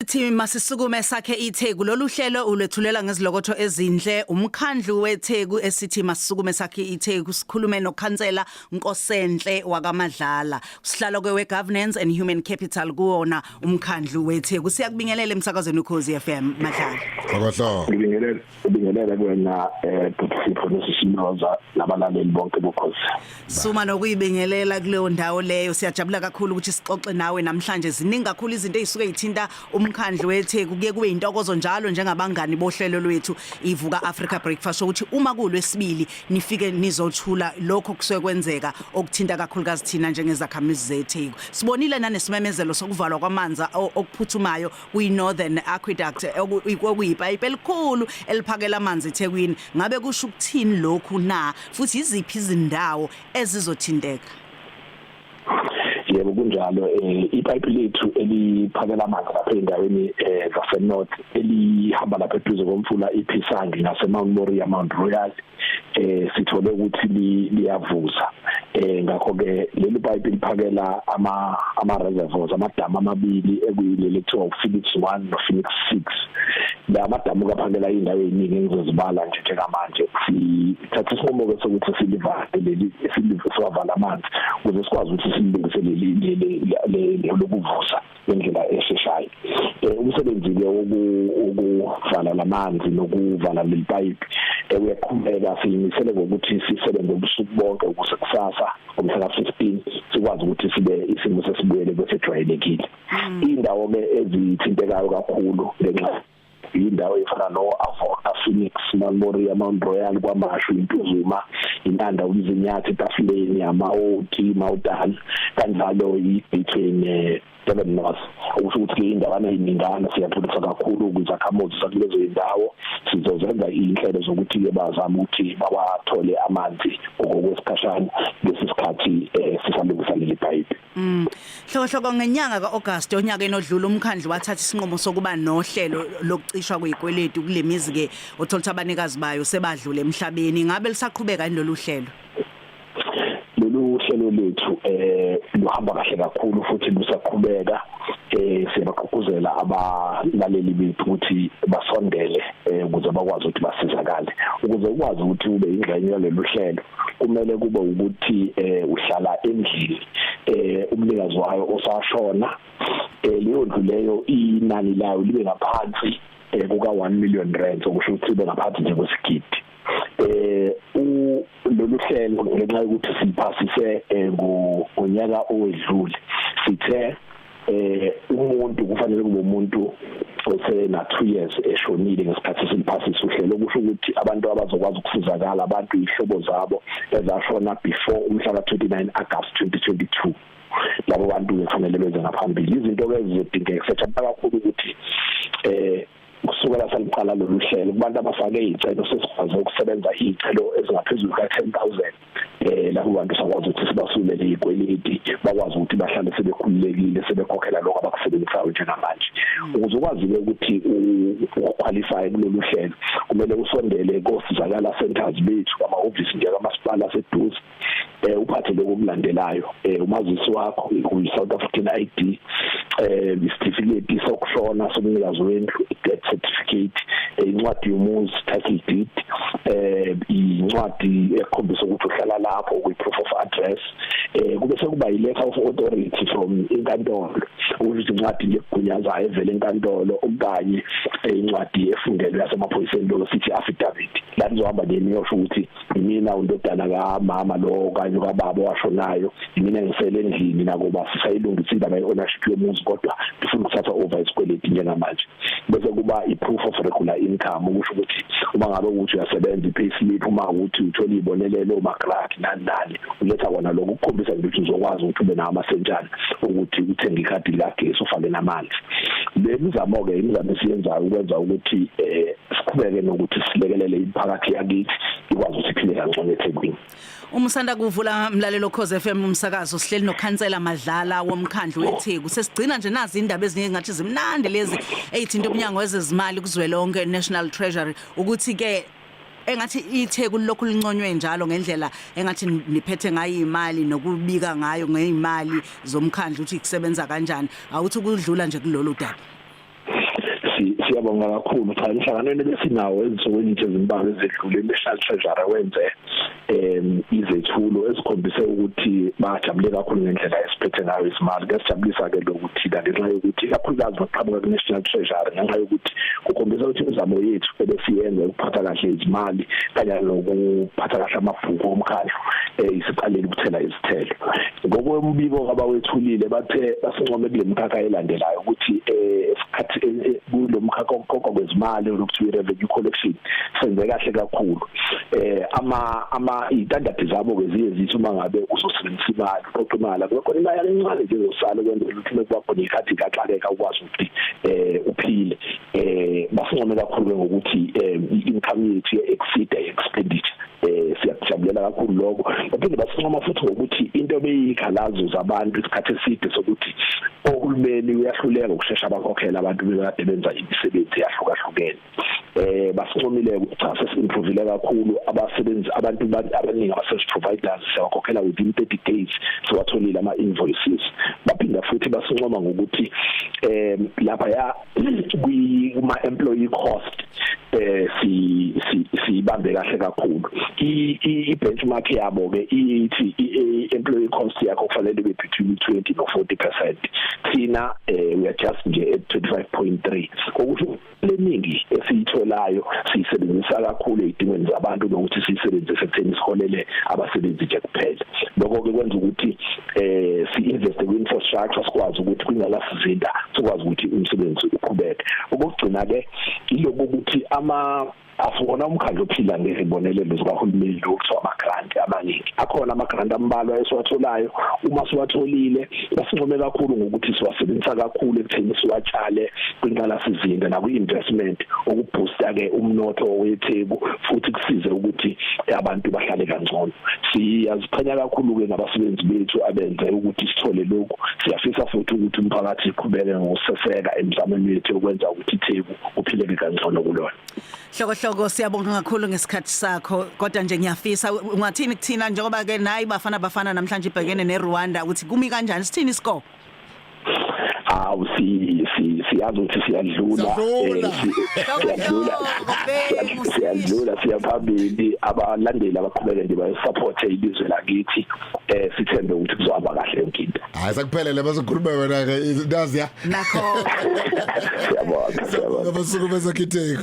Sithi masisukume sakhe iTheku lolu hlelo ulwethulela ngezilokotho ezinhle umkhandlu weTheku esithi masisukume sakhe iTheku sikhulume nokhansela Nkosenhle wakaMadlala sihlalo kwe governance and human capital kuwona umkhandlu weTheku siyakubingelela emsakazweni uKhosi FM Madlala Akahla Ngibingelela Ubingelele kuwena eh bhuti Sipho nosishinoza nabalaleli bonke bokhosi. Suma nokuyibingelela kuleyo ndawo leyo siyajabula kakhulu ukuthi sixoxe nawe namhlanje ziningi kakhulu izinto ezisuke zithinta umkhandlu weTheku kuye kube intokozo njalo njengabangani bohlelo lwethu ivuka Africa Breakfast ukuthi uma kulwesibili nifike nizothula lokho kusuke kwenzeka okuthinta kakhulukazi thina njengezakhamizi zeTheku. Sibonile nanesimemezelo sokuvalwa kwamanzi okuphuthumayo kwi-northern aqueduct okuyipayipi elikhulu eliphakela amanzi ethekwini ngabe kusho ukuthini lokhu na futhi yiziphi izindawo ezizothinteka yebo kunjalo eh ipipe lethu eliphakela amanzi lapha endaweni eh zase north elihamba lapha eduze komfula iPhisangi nase Mount Moria Mount Royal eh sithole ukuthi liyavuza eh ngakho ke leli pipe liphakela ama ama reservoirs amadamu amabili ekuyileli kuthiwa uPhoenix 1 no Phoenix 6 la madamu kaphakela indawo eziningi engizozibala nje njengamanje sithatha isinqumo ke sokuthi silivale leli silivale amanzi ukuze sikwazi ukuthi silungiselele leli lokuvuza ngendlela esheshayo eh, umsebenzi ke wokuvala lamanzi nokuvala lelipayipi eh, uyaqhubeka siyimisele ngokuthi sisebenze ubusuku bonke ukuze kusasa ngomhla ka-15 sikwazi ukuthi sibe isimo sesibuyele kwesejwayelekile mm. indawo ke ezithintekayo kakhulu ngenxa indawo efana no-avoka phoenix mamoria mount royal kwamashu intuzuma intanda umzinyathi etafuleni ama-ot mawudan kanjalo i-between eh, Durban North okusho ukuthi ke indawana iningana siyathulisa kakhulu kwizakhamuzi zakulezo indawo sizozenza inhlelo zokuthi ke bazama ukuthi bawathole amanzi ngokwesikhashana lesi sikhathi eh, sisalungiselela ipipe Mm. Hlokohloko ngenyanga kaAugust onyakeni odlule umkhandlu wathatha isinqumo sokuba nohlelo lokucishwa kwezikweletu kulemizi ke othola ukuthi abanikazi bayo sebadlule emhlabeni ngabe lisaqhubeka yini lolu hlelo lolu hlelo lethu eh luhamba kahle kakhulu futhi lusaqhubeka eh siyabaqhuquzela abalaleli bethu ukuthi basondele eh ukuze bakwazi ukuthi basizakale ukuze ukwazi ukuthi ube ingxenye yalolu hlelo kumele kube ukuthi eh uhlala endlini eh umnikazi wayo osashona eh leyo ndlu leyo inani layo libe ngaphansi eh kuka 1 million rand okusho ukuthi ibe ngaphansi nje kwesigidi eh u lolu hlelo ngenxa yokuthi siphasise eh, ngonyaka owedlule sithe eh umuntu kufanele kube umuntu osena 2 years eshonile ngesikhathi siliphasisa uhlelo kusho ukuthi abantu abazokwazi ukusizakala abantu ihlobo zabo ezashona before umhla ka 29 August 2022 labo bantu kufanele benze ngaphambili izinto ke zizodingeka sethemba kakhulu ukuthi eh kusukela saliqala lolu hlelo kubantu abafake izicelo sesikwazi ukusebenza izicelo ezingaphezulu ka 10000 eh labo bantu sakwazi ukuthi sibasulele izikweleti bakwazi ukuthi bahlale sebekhululekile sebekhokhela lokho abakusebenzisayo njengamanje hmm. ukuze ukwazi ke ukuthi uqualify kulolu hlelo kumele usondele kosizakala centers bethu ama office nje kamasipala seduze eh uphathe lokho kulandelayo eh umazisi wakho uyi South African ID eh isitifiketi sokushona somnikazi wendlu death certificate eh, incwadi yomuzi title deed eh incwadi ekhombisa ukuthi uhlala lapho kwi proof of address eh kube sekuba i letter of authority from inkantolo ukuthi incwadi legunyazayo evela enkantolo okanye eh, incwadi efungelwe yasemaphoyiseni lo sithi affidavit la nizohamba nini yosho ukuthi mina undodana kamama lo kanye kababa washonayo mina ngisele endlini nakuba sisayilungisa indaba ye-ownership yomuzi kodwa ngifuna ukuthatha over isikweleti njengamanje bese kuba i-proof of regular income ukusho ukuthi uma ngabe ukuthi uyasebenza i-payslip uma ukuthi uthola ibonelelo umagrant nani nani uletha kona lokho ukukhombisa ukuthi uzokwazi ukuthi ube nawo amasentshana ukuthi uthenge ikhadi likagesi ufake namanzi le mizamo-ke imizamo esiyenzayo ukwenza ukuthi um siqhubeke nokuthi silekelele imiphakathi yakithi ikwazi ukuthi iphile kangcono eThekwini Umusanda kuvula mlalelo Khoze FM umsakazo sihleli nokhansela Madlala womkhandlu weTheku sesigcina nje nazi indaba ezinye ngathi zimnandi lezi eyithinta umnyango wezezimali kuzwelonke National Treasury ukuthi ke engathi itheku lokhu linconywe njalo ngendlela engathi niphethe ngayo imali nokubika ngayo ngeimali zomkhandlu ukuthi kusebenza kanjani awuthi kudlula nje kulolu daba siyabonga kakhulu cha inhlanganweni besinawo ezinsukwini nje ezimbalwa ezedlule national treasury wenze em izethulo esikhombise ukuthi bajabule kakhulu ngendlela esiphethe ngayo isimali kuyasijabulisa ke lokuthi la ngenxa yokuthi kakhulukazi baqhamuka ku national treasury ngenxa yokuthi kukhombisa ukuthi imizamo yethu ebesiyenza ukuphatha kahle izimali kanye nokuphatha kahle amabhuku omkhandlu eh, isiqalile ukuthela izithelo ngokombiko abawethulile bathe basincome kule mkhakha elandelayo ukuthi eh, esikhathi eh, eh, kulo mkhakha okuqoqwa kwezimali lokuthiwa revenue collection senze kahle kakhulu eh ama ama istandards zabo ke ziye zithi uma ngabe uzosebenzisa imali uqoqa imali kube khona imali encane nje ezosala kwenzela ukuthi kuba khona ikhathi kaxakeka ukwazi ukuthi eh uphile eh basincome kakhulu ngokuthi eh, income yethu ye exceed expenditure eh siyakujabulela kakhulu lokho baphinde basincoma futhi ngokuthi into beyikhalazo zabantu isikhathi eside sokuthi ohulumeni uyahluleka ukushesha abakhokhela abantu bekade benza imisebenzi yahlukahlukene eh basincomile ukuthi cha sesimprovile kakhulu abasebenzi abantu abaningi abasebenzi providers siyakhokhela within 30 days siwatholile ama invoices baphinda futhi basincoma ngokuthi eh lapha ya kwi kuma employee cost eh si sibambe kahle kakhulu i benchmark yabo ke ithi i employee cost yakho kufanele be between 20 no 40% thina eh we are just nje at 25.3 ukuthi leningi esiyitholayo siyisebenzisa kakhulu ezidingweni zabantu nokuthi siyisebenzise ekutheni siholele abasebenzi nje kuphela lokho ke kwenza ukuthi eh si invest kwi infrastructure sikwazi ukuthi kwingala ukuzinda sikwazi ukuthi umsebenzi uqhubeke okugcina ke iloko ukuthi ama asibona umkhandlu ophila ngezibonelelo zikahulumeni lokuthiwa ama-grant amaningi akhona ama-grant ambalwa esiwatholayo uma siwatholile basincome kakhulu ngokuthi siwasebenzisa kakhulu ekutheni siwatshale kwinqalasizinda nakwi-investment ukubhusta-ke umnotho wetheku futhi kusize ukuthi abantu bahlale kangcono siyaziqhenya kakhulu-ke ngabasebenzi bethu abenze ukuthi sithole lokhu siyafisa futhi ukuthi umphakathi uqhubeke ngokuseseka emizamweni yethu yokwenza ukuthi itheku uphileke kangcono kulona hloko hloko siyabonga kakhulu ngesikhathi sakho kodwa nje ngiyafisa ungathini kuthina njengoba ke nayi bafana bafana namhlanje ibhekene neRwanda ukuthi kumi kanjani sithini isikole awu si si siyazi ukuthi siyadlula siyadlula siyadlula siyaphambili abalandeli abaqhubeke nje bayisupport ilizwe lakithi eh sithembe ukuthi kuzohamba kahle yonke into hayi sakuphelele bazokhuluma wena ke nazi ya nakho siyabonga siyabonga basuku bezakhitheka